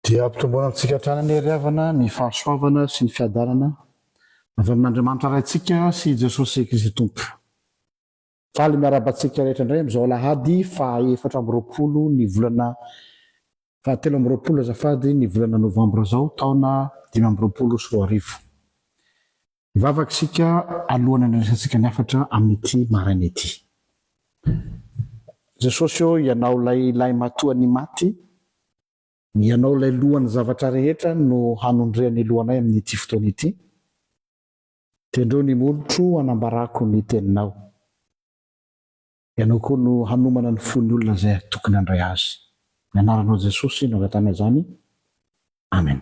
Dia ampitomboana amintsika hatrany anie ry havana ny fahasoavana sy ny fiadanana avy amin'Andriamanitra Raintsika sy i Jesosy Kristy Tompo. Faly miarahaba antsika rehetra indray amin'izao alahady faha efatra amby roapolo ny volana faha telo amby roapolo azafady ny volana novambra izao taona dimy amby roapolo sy roa arivo. Hivavaka isika alohan'ny handraisantsika ny hafatra amin'ity maraina ity. Jesosy ô, Ianao ilay lahimatoa nimaty, Ianao ilay lohan'ny zavatra rehetra no hanondrian'ny lohanay amin'ity fotoana ity. Tendreo ny molotro hanambarako ny Teninao. Ianao koa no hanomana ny fon'ny olona izay tokony handray Azy. Ny Anaranao Jesosy no angatahana izany. Amen.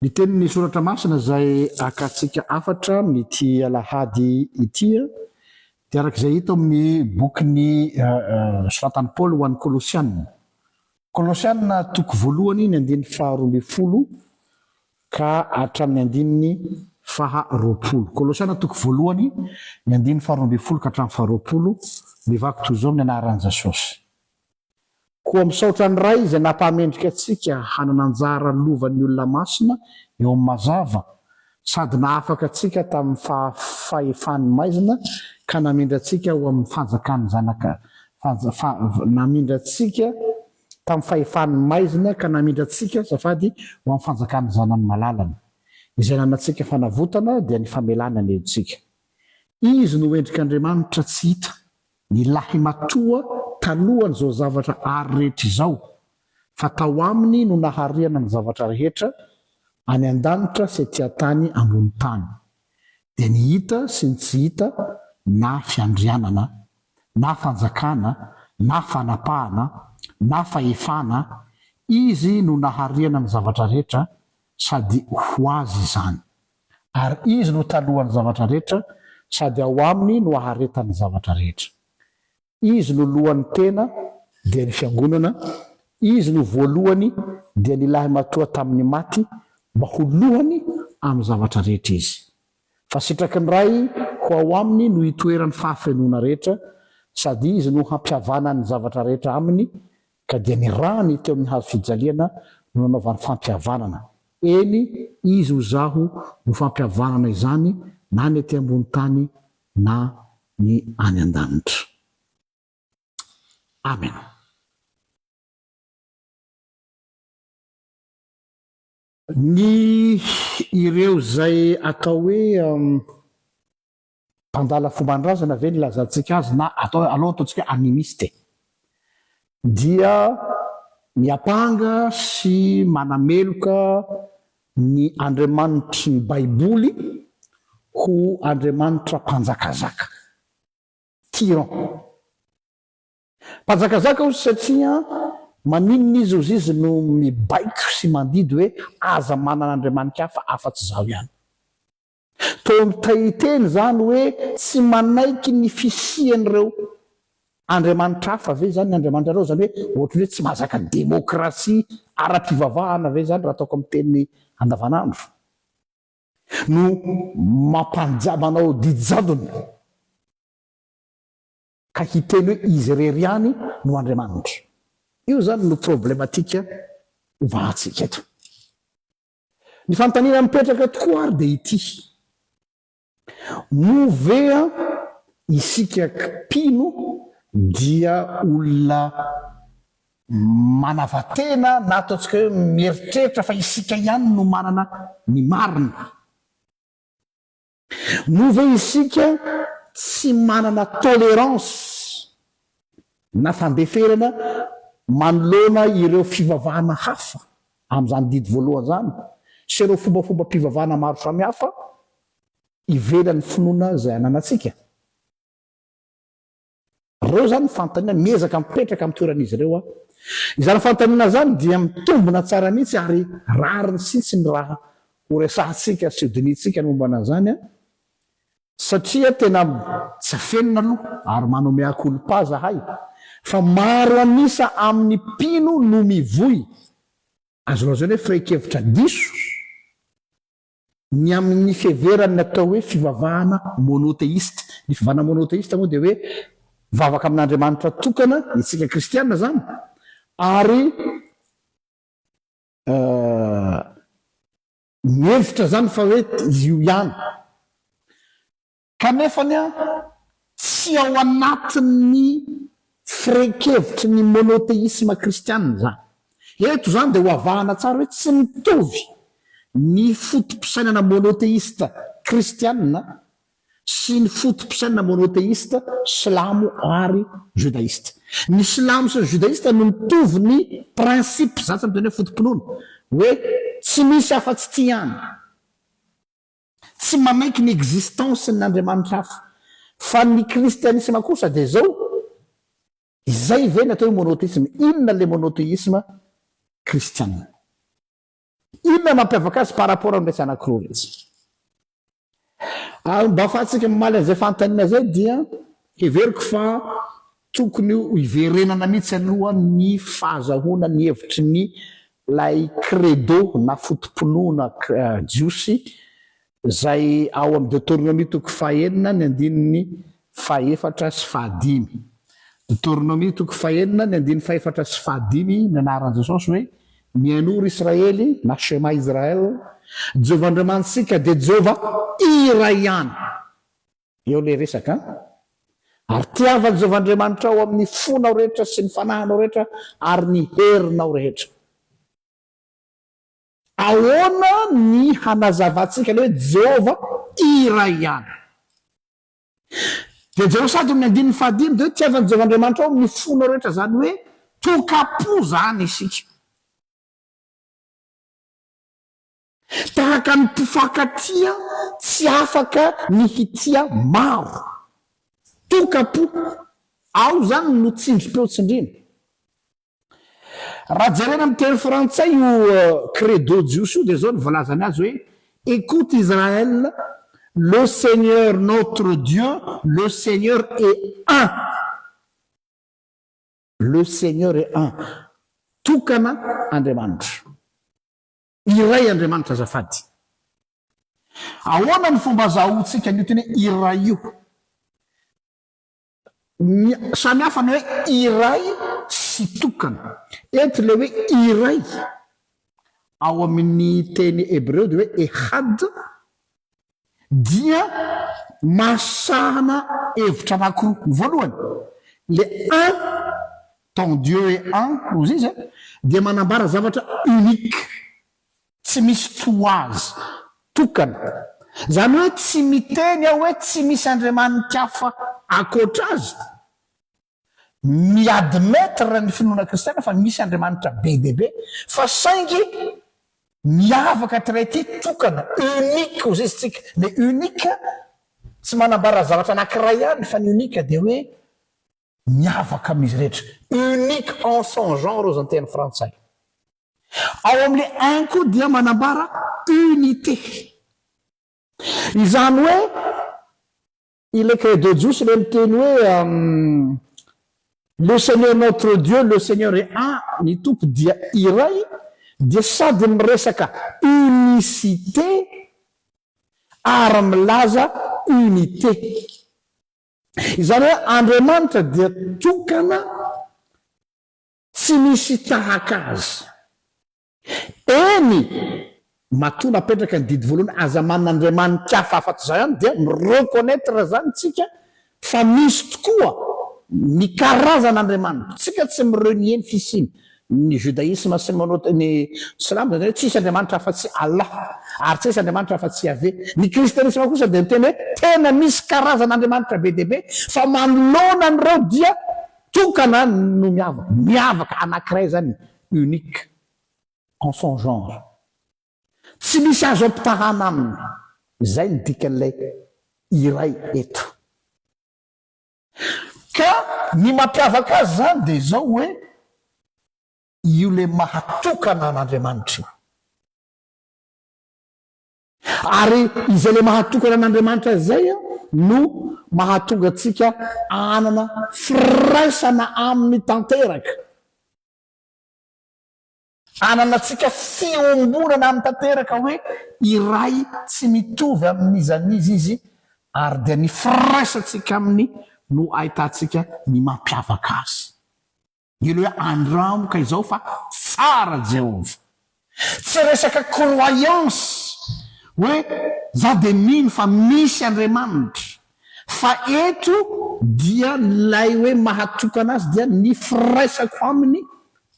Ny tenin'ny Soratra Masina izay akantsika hafatra amin'ity alahady ity dia araka izay hita ao amin'ny bokin'ny soratan'i Paoly ho an'ny Kolosiana, Kolosiana toko voalohany ny andininy faha roa ambin'ny folo ka hatramin'ny andininy faha roapolo. Kolosiana toko voalohany ny andininy faha roa ambin'ny folo ka hatramin'ny faha roapolo, mivaky toy izao ny anaharan'i Jesosy. Koa misaotra ny Ray izay nampahamendrika antsika hanana anjara lovan'ny olona masina eo amin'ny mazava, sady nahafaka antsika tamin'ny fahefany maizina ka namindra antsika ho amin'ny fanjakan'ny Zanaka, namindra antsika tamin'ny fahefany maizina ka namindra antsika, azafady, ho amin'ny fanjakan'ny Zanany malalany, izay nanantsika fanavotana dia ny famelana ny helotsika. Izy no endrik'Andriamanitra tsy hita. Ny lahimatoa talohan'izao zavatra àry rehetra izao, fa tao aminy no naharihana ny zavatra rehetra, any an-danitra sy etỳ an-tany ambony tany, dia ny hita sy ny tsy hita, na fiandrianana, na fanjakana, na fanapahana, na fahefana, izy no naharihana ny zavatra rehetra, sady ho azy izany. ary Izy no talohan'ny zavatra rehetra, sady ao Aminy no aharetan'ny zavatra rehetra. Izy no lohan'ny tena, dia ny Fiangonana, Izy no voalohany, dia ny Lahimatoa tamin'ny maty, mba ho lohany amin'ny zavatra rehetra Izy. Fa sitraky ny Ray ho ao Aminy no hitoeran'ny fahafenoana rehetra, sady Izy no hampihavanan'ny zavatra rehetra Aminy, Ka dia nirahany teo amin'ny hazo fijaliana no nanaovany fampihavanana. Eny, izy ho zaho no fampihavanana izany na ny ety ambony tany na ny any an-danitra. Amena. Ny ireo izay atao hoe Mpandala fomban-drazana ve ny ilazantsika azy na atao aleo ataontsika animiste? dia miampanga sy manameloka ny andriamanitry ny Baiboly ho andriamanitra mpanjakazaka, tyran. Mpanjakazaka hozy satria maninona izy hozy izy no mibaiko sy mandidy hoe aza manana andriamanika hafa afa-tsy izaho ihany? Toa mitahiteny izany hoe tsy manaiky ny fisian'ireo andriamanitra hafa ve izany ny andriamanitrareo? Izany hoe ohatran'ny hoe tsy mahazaka demokrasia ara-pivavahana ve izany, raha ataoko amin'ny teny andavanandro, no mampanja, manao didy jadona ka hiteny hoe izy irery ihany no andriamanitra? Io izany no problematika ovahantsika eto. Ny fanontaniana mipetraka tokoa ary dia ity, moa ve isika mpino dia olona manava-tena na ataontsika hoe mieritreritra fa isika ihany no manana ny marina? Moa ve isika tsy manana tolerance na fandeferana manoloana ireo fivavahana hafa amin'izany didy voalohany izany sy ireo fombafombam-pivavahana maro samihafa ivelan'ny finoana izay ananantsika? Ireo izany ny fanontaniana, miezaka mipetraka amin'ny toeran'izy ireo aho. Izany fanontaniana izany dia mitombina tsara mihitsy ary rariny sitsiny raha horesahantsika sy hodinihintsika ny momba an'izany satria tena tsy afenina aloha ary manao mea culpa zahay fa maro an'isa amin'ny mpino no mivoy azo lazaina hoe fehin-kevitra diso Ny amin' ny fiheveran' ny atao hoe fivavahana mônôteista. Ny fivavahana mônôteista moa dia hoe vavaka amin' Andriamanitra tokana, isika kristiana izany, ary mihevitra izany fa hoe io ihany. Kanefa ny ahy, tsy ao anatin'ny firaikevitry ny monoteisma kristiana izany. Eto izany dia hoavahana tsara hoe tsy mitovy ny foto-pisainana monoteista kristiana sy ny foto-pisainana monoteista silamo ary jodaista. Ny silamo sy ny jodaista no mitovy ny principe, za tsy miteny hoe foto-pinoana, hoe tsy misy afa-tsy ity ihany. Tsy manaiky ny existence ny andriamanitra hafa. Fa ny kristianisma kosa dia izao, izay ve ny atao hoe monotheisme? Inona ilay monotheisme kristiana? Inona mampiavaka azy par rapport amin'iretsy anankiroa iretsy? Ary mba afahantsika mamaly an'izay fanontaniana izay dia heveriko fa Tokony ho iverenana mihitsy aloha ny fahazahoana ny hevitry ny ilay credo na foto-pinoana jiosy izay ao amin'ny Deoteronomia toko fahenina ny andininy fahefatra sy fahadimy. Deoteronomia toko fahenina ny andininy fahefatra sy fahadimy ny anaran'i Jesosy hoe, Mihainoa ry Israely na Shema Israel, Jehovah Andriamanitsika dia Jehovah iray ihany. Eo ilay resaka an! Ary tiavan'i Jehovah Andriamanitrao amin'ny fonao rehetra sy ny fanahinao rehetra ary ny herinao rehetra. Ahoana ny hanazavantsika ilay hoe Jehovah iray ihany? Dia jereo sady amin'ny andininy fahadimy, dia hoe tiavan'i Jehovah Andriamanitrao amin'ny fonao rehetra, izany hoe toka-po izany isika. Tahaka ny mpifankatia tsy afaka ny hitia maro. Toka-po, ao izany no tsindrim-peo tsindriana. Raha jerena amin'ny teny frantsay io credo jiosy io dia izao no voalazany azy hoe, Écoute Israël, le Seigneur notre Dieu, le Seigneur est un. Le Seigneur est un. Tokana Andriamanitra. Iray Andriamanitra azafady. Ahoana ny fomba azahoantsika an'io teny hoe iray io? Ny samy hafa ny hoe iray sy tokana. Eto ilay hoe iray ao amin'ny teny hebreo dia hoe ehad, dia mahasahana hevitra anankiroa. Ny voalohany, le un dans Dieu est un, ozy izy a, dia manambara zavatra unique, tsy misy toa azy, tokana. Izany hoe tsy miteny aho hoe tsy misy andriamanitra hafa ankoatra azy. Mi-admettre ny finoana kristiana fa misy Andriamanitra be dia be, fa saingy miavaka hatray ity, tokana, unique hozy izy, tsika. Le unique tsy manambara zavatra anankiray ihany, fa ny unique dia hoe miavaka amin'izy rehetra, unique en son genre hozy ny teny frantsay. Ao amin'le un koa dia manambara unité. Izany hoe Ilay craie de Jousse ilay miteny hoe Le Seigneur notre Dieu, le Seigneur est un, ny Tompo dia iray, dia sady miresaka unicité ary milaza unité. Izany hoe Andriamanitra dia tokana tsy misy tahaka azy. Eny! Matoa napetraka ny didy voalohany aza manana andriamani-kafa afa-tsy izaho ihany dia mi-reconnaitre izany isika fa misy tokoa ny karazana andriamanitra. Isika tsy mi-renier ny fisiany. Ny judaisme sy monote ny silamo dia hoe tsy hisy andriamanitra afa-tsy Allah ary tsy hisy andriamanitra afa-tsy Yaveh. Ny kristianisma kosa dia miteny hoe tena misy karazana andriamanitra be dia be fa manoloana an'ireo dia tokana no miavaka. Miavaka anankiray izany unique en son genre. Tsy misy azo ampitahana aminy, izay no dikan'ilay iray eto. Ka ny mampiavaka azy izany dia izao hoe, io ilay maha tokana an'Andriamanitra io. Ary izay ilay mahatokana an'Andriamanitra izay no mahatonga antsika hanana firaisana aminy tanteraka, hananantsika fiombonana aminy tanteraka hoe iray tsy mitovy amin'iza n'iza izy, ary dia ny firaisantsika aminy no ahitantsika ny mampiavaka azy. Heno hoe andramo ka izao fa tsara Jehovah. Tsy resaka croyance hoe za dia mino fa misy Andriamanitra fa eto dia ilay hoe mahatokana azy dia ny firaisako aminy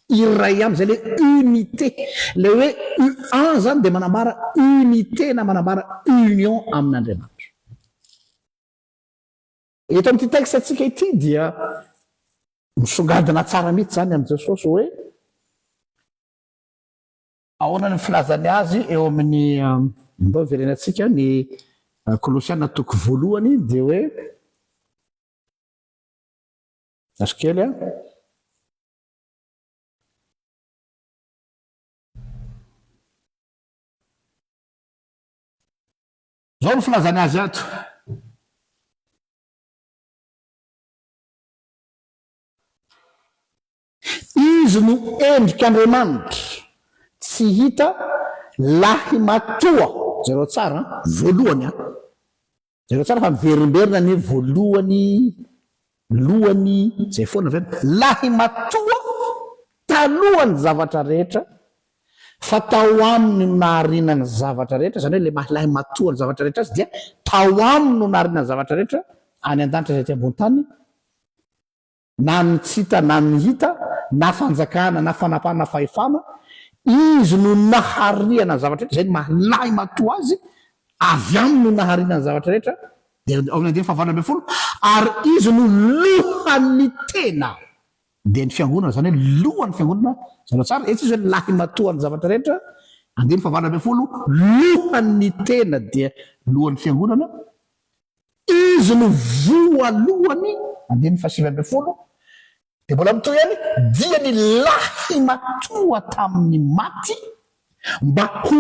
iray ihany izay le unité. Ilay hoe un zany dia manambara unité na manambara union amin'Andriamanitra. Eto amin'ity texte-ntsika ity dia misongadina tsara mihitsy izany amin'i Jesosy hoe ahoana ny filazany azy eo amin'ny ndao iverena antsika ny Kolosiana toko voalohany dia hoe azo kely a Izao no filazany azy ato. Izy no endrik' Andriamanitra tsy hita lahimatoa. Jereo tsara an, voalohany an. Jereo tsara fa miverimberina ny voalohany Lohany izay foana ve ny lahimatoa talohan'ny zavatra rehetra fa tao aminy no nahariana ny zavatra rehetra, izany hoe ilay maha lahimatoa ny zavatra rehetra azy dia tao aminy no nahariana ny zavatra rehetra any an-danitra sy ety ambony tany na ny tsy hita na ny hita na fanjakana na fanapahana fahefana, Izy no nahariana ny zavatra rehetra, izay no maha lahimatoa azy, avy aminy no nahariana ny zavatra rehetra, Dia ao amin'ny andininy fahavalona ambin'ny folo, Ary izy no lohan'ny tena. Dia ny fiangonana, izany hoe lohan'ny fiangonana, zara tsara, etsy izy hoe lahimatoan'ny zavatra rehetra, andininy fahavalona ambin'ny folo, lohan'ny tena dia lohan'ny fiangonana, izy no voalohany, andininy fahasivy ambin'ny folo, Dia mbola mitohy ihany, Dia ny lahy matoa tamin'ny maty mba ho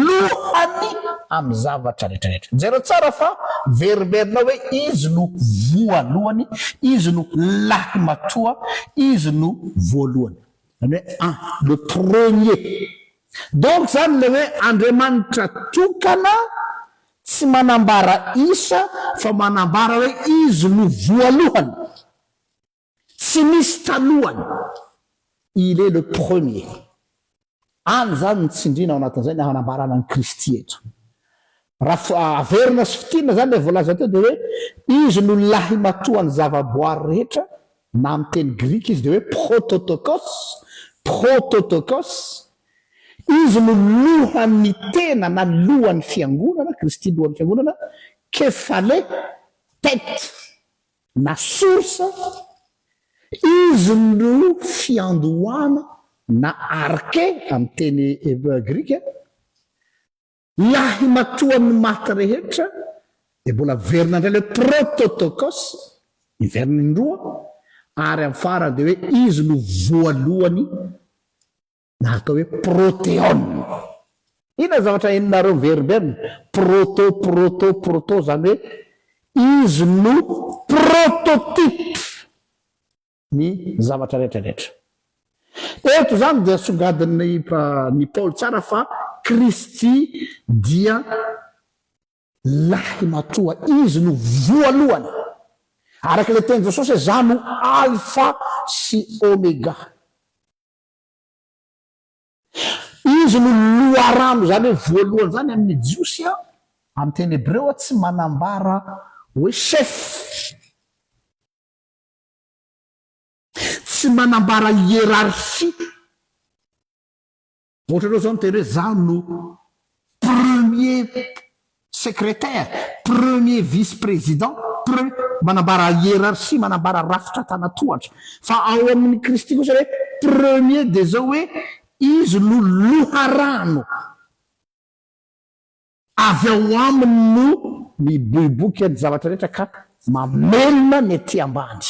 lohany amin'ny zavatra rehetrarehetra. Jereo tsara fa verimberinao hoe izy no voalohany, izy no lahy matoa, izy no voalohany. Izany hoe an, le premier. Donc izany ilay hoe Andriamanitra tokana tsy manambara isa fa manambara hoe izy no voalohany. Tsy misy talohany, il est le premier. Any izany ny tsindriana ao anatin'izay ny hanambarana an'i Kristy eto. Raha averina sy fintinina izany ilay voalaza teo dia hoe Izy no lahimatoan'ny zavaboary rehetra, na amin'ny teny grika izy dia hoe prototokos, prototokos. Izy no lohan'ny tena na lohan'ny fiangonana, Kristy lohan'ny fiangonana, kephale, tête. na source, izy no fiandohana na arke amin'ny teny grika, lahimatoan'ny maty rehetra, dia mbola miverina indray ilay hoe prototokos, miverina indroa, ary amin'ny farany dia hoe izy no voalohany na atao hoe proteone. Inona zavatra henonareo miverimberina? Proto, proto, proto, izany hoe izy no prototype ny zavatra rehetra rehetra. Eto izany dia songadin'ny ny Paoly tsara fa Kristy dia lahy matoa, izy no voalohany. Araka ilay teny Jesosy hoe za no alfa sy omega. Izy no loharano, izany hoe voalohany izany amin'ny Jiosy, amin'ny teny hebreo tsy manambara hoe chef, tsy manambara hiérarchie, ohatranao izao miteny hoe izaho no premier Secrétaire, Premier Vice Président, Pre, manambara hiérarchie, manambara rafitra tana-tohatra. Fa ao amin' i Kristy kosa hoe Premier dia izao hoe Izy no loharano. Avy ao Aminy no miboiboika ny zavatra rehetra ka mamelona ny aty ambany.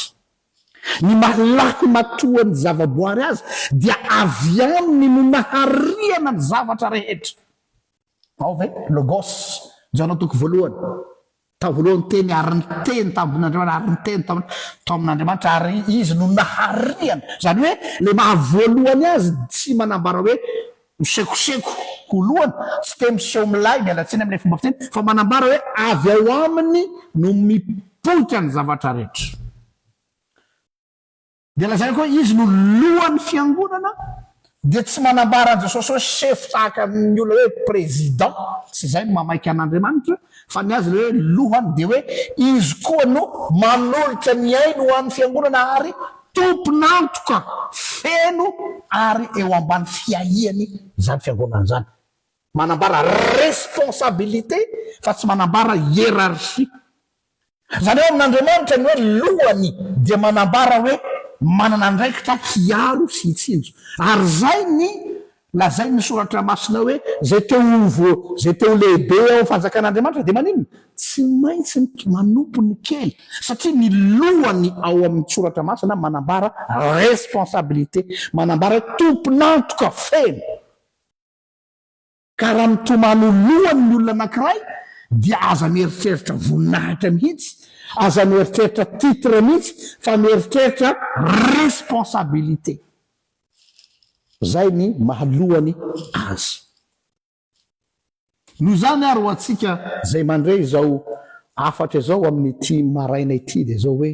Ny maha-lako matoa ny zavaboary azy dia avy Aminy no nahariana ny zavatra rehetra. Ao ve? Logos, Jaona toko voalohany, Tao voalohany ny Teny, ary ny Teny tao amin'Andriamanitra, ary ny Teny tao tao amin'Andriamanitra, ary Izy no nahariany. Izany hoe, ilay maha voalohany azy tsy manambara hoe ho sekoseko ho lohany, tsy te miseho milay, miala tsiny amin'ilay fomba fiteny, fa manambara hoe avy ao Aminy no mipoitra ny zavatra rehetra. Dia lazainy koa hoe izy no lohan'ny fiangonana dia tsy manambara an'i Jesosy hoe chef tahaka ny olona hoe président, tsy izay no mamaika an'Andriamanitra, fa ny azy ilay hoe lohany dia hoe izy koa no manolotra ny ainy ho an'ny fiangonana ary tompon'antoka feno ary eo ambany fiahiany izany fiangonana izany. Manambara responsabilité fa tsy manambara hiérarchie. Izany hoe amin'Andriamanitra ny hoe lohany dia manambara hoe manana andraikitra hiaro sy hitsinjo. Ary izay ny lazain'ny soratra masina hoe izay te ho vo, izay te ho lehibe ao amin'ny fanjakan'Andriamanitra dia maninona? Tsy maintsy manompo ny kely. Satria ny lohany ao amin'ny soratra masina manambara responsabilité, manambara hoe tompon'antoka feno. Ka raha mitomany ho lohany ny olona anankiray dia aza mieritreritra voninahitra mihitsy, aza mieritreritra titre mihitsy fa mieritreritra responsabilité. Zay ny maha lohany azy. Noho izany ary ho antsika izay mandre izao hafatra izao amin'ny ity maraina ity dia izao hoe.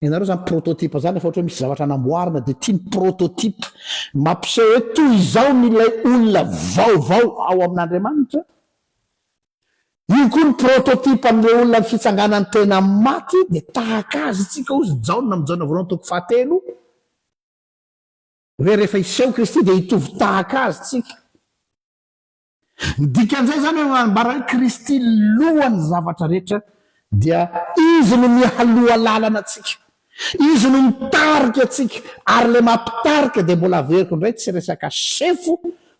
Ianareo izany prototype izany efa ohatra hoe misy zavatra namboarina dia ity ny prototype mampiseho hoe toy izao ny ilay olona vaovao ao amin'Andriamanitra. Io koa ny prototype amin'ireo olona ny fitsanganan'ny tena amin'ny maty dia tahaka azy isika hozy Jaona amin'ny Jaona voalohany toko fahatelo hoe rehefa hiseho Kristy dia hitovy tahaka azy isika. Ny dikan'izay izany hoe manambara hoe Kristy lohan'ny zavatra rehetra, dia Izy no mialoha lalana antsika, Izy no mitarika antsika, ary ilay maha mpitarika dia mbola averiko indray tsy resaka chef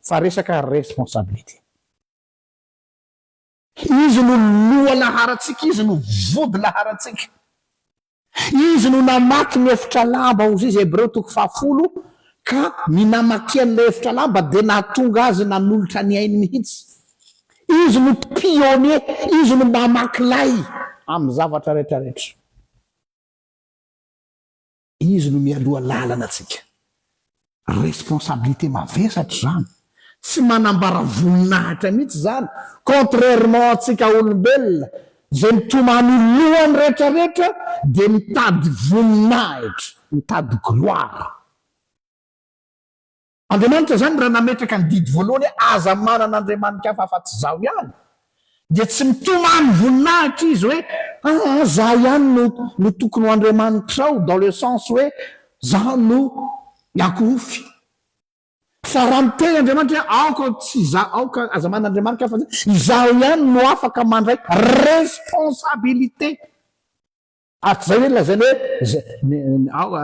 fa resaka responsabilité. Izy no lohalaharantsika, Izy no vodilaharantsika. Izy no namaky ny efitra lamba, hoy izy, Hebreo toko fahafolo, ka ny namakiany ilay efitra lamba dia nahatonga azy nanolotra ny ainy mihitsy. Izy no pionnier, Izy no mamaky lay amin'ny zavatra rehetra rehetra. Izy no mialoha lalana antsika. Responsabilité mavesatra izany. Tsy manambara voninahitra mihitsy izany, contrairement antsika olombelona izay mitomany loha ny rehetra rehetra dia mitady voninahitra, mitady gloire. Andriamanitra izany raha nametraka ny didy voalohany hoe aza manana andriamani-kafa afa-tsy Izaho ihany, dia tsy mitomany voninahitra izy hoe ah ah zah ihany no no tokony ho andriamanitrao dans le sens hoe zah no iakohofy. Fa raha miteny Andriamanitra hoe aoka tsy izaho aoka aza manana andriamani-kafa afa-tsy Izaho ihany no afaka mandray responsabilité. Ary tsy izay ve ny lazainy hoe, Ny, aoka,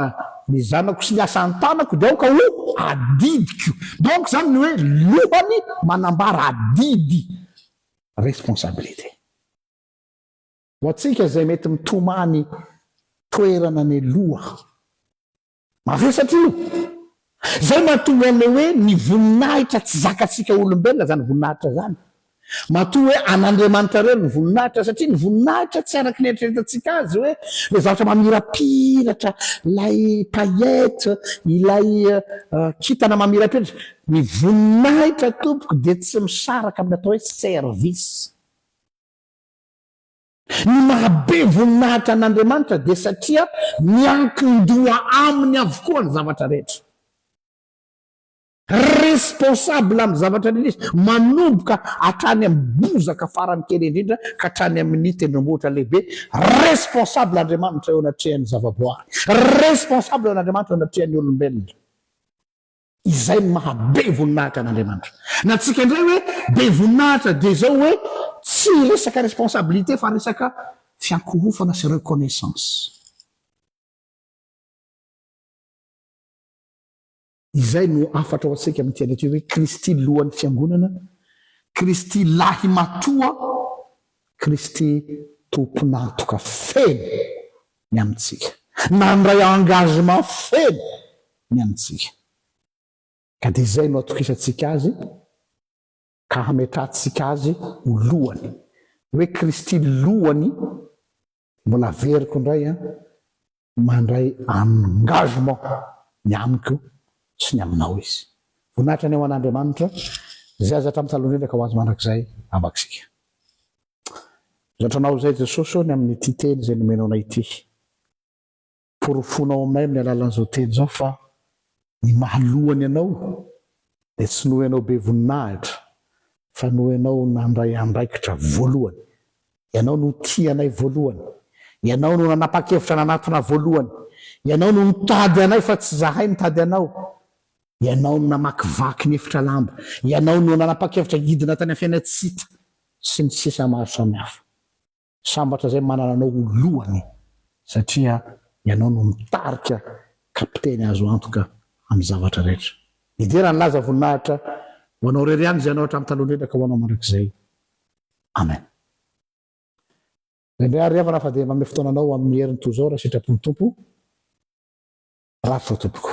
ny zanako sy ny asa an-tanako dia aoka ho adidiko. Donc izany ny hoe lohany manambara adidy, responsabilité. Ho antsika izay mety mitomany toerana ny loha. Mavesatra io! Izay mahatonga an'ilay hoe ny voninahitra tsy zakantsika olombelona izany voninahitra izany. Matoa hoe an'Andriamanitra irery ny voninahitra, satria ny voninahitra tsy araka ny eritreretantsika azy hoe ilay zavatra mamirapiratra, ilay paillettes, ilay kintana mamirapiratra. Ny voninahitra tompoko dia tsy misaraka amin'ny atao hoe service. Ny mahabe voninahitra an'Andriamanitra dia satria miankin-doha Aminy avokoa ny zavatra rehetra. Responsable amin'ny zavatra rehetra Izy, manomboka hatrany amin'ny bozaka farany kely indrindra ka hatrany amin'ny tendrombohitra lehibe. Responsable Andriamanitra eo anatrehan'ny zavaboary. Responsable an'Andriamanitra eo anatrehan'ny olombelona. Izay no maha be voninahitra an'Andriamanitra. Ny antsika indray hoe be voninahitra dia izao hoe tsy resaka responsabilité fa resaka fiankohofana sy reconnaissance. Izay no hafatra ho antsika amin'ity andro ity hoe Kristy lohan'ny fiangonana, Kristy lahimatoa, Kristy tompon'antoka feno ny amintsika, nandray engagement feno ny amintsika, ka dia izay no atokisantsika Azy ka hametrahantsika Azy ho Lohany, hoe Kristy Lohany, mbola averiko indray an, mandray engagement ny amiko sy ny aminao Izy. Voninahitra ny ho an'Andriamanitra, Izay aza hatramin'ny taloha indrindra ka ho azy mandrakizay, Aman-tsika. Zantranao izay Jesosy ô ny amin'ity teny izay nomenao anay ity. Porofonao aminay amin'ny alalan'izao teny izao fa ny maha lohany anao dia tsy noho ianao be voninahitra fa noho ianao nandray andraikitra voalohany. Ianao no tia anay voalohany. Ianao no nanapa-kevitra nanatona voalohany. Ianao no nitady anay fa tsy izahay nitady anao. Ianao no namakivaky ny efitra lamba, Ianao no nanapa-kevitra hidina tany Afena tsy hita, sy ny sisa maro samihafa. Sambatra izay manana anao ho lohany satria Ianao no mitarika kapiteny azo antoka amin'ny zavatra rehetra. Hidera ny laza voninahitra ho Anao irery ihany izay Ianao hatramin'ny talohan-dreraka ho Anao mandrakizay. Amen. Indraindray ary havana fa dia manome fotoananao amin'ny heriny toy izao raha sitrapon'ny Tompo, Rafitra tompoko.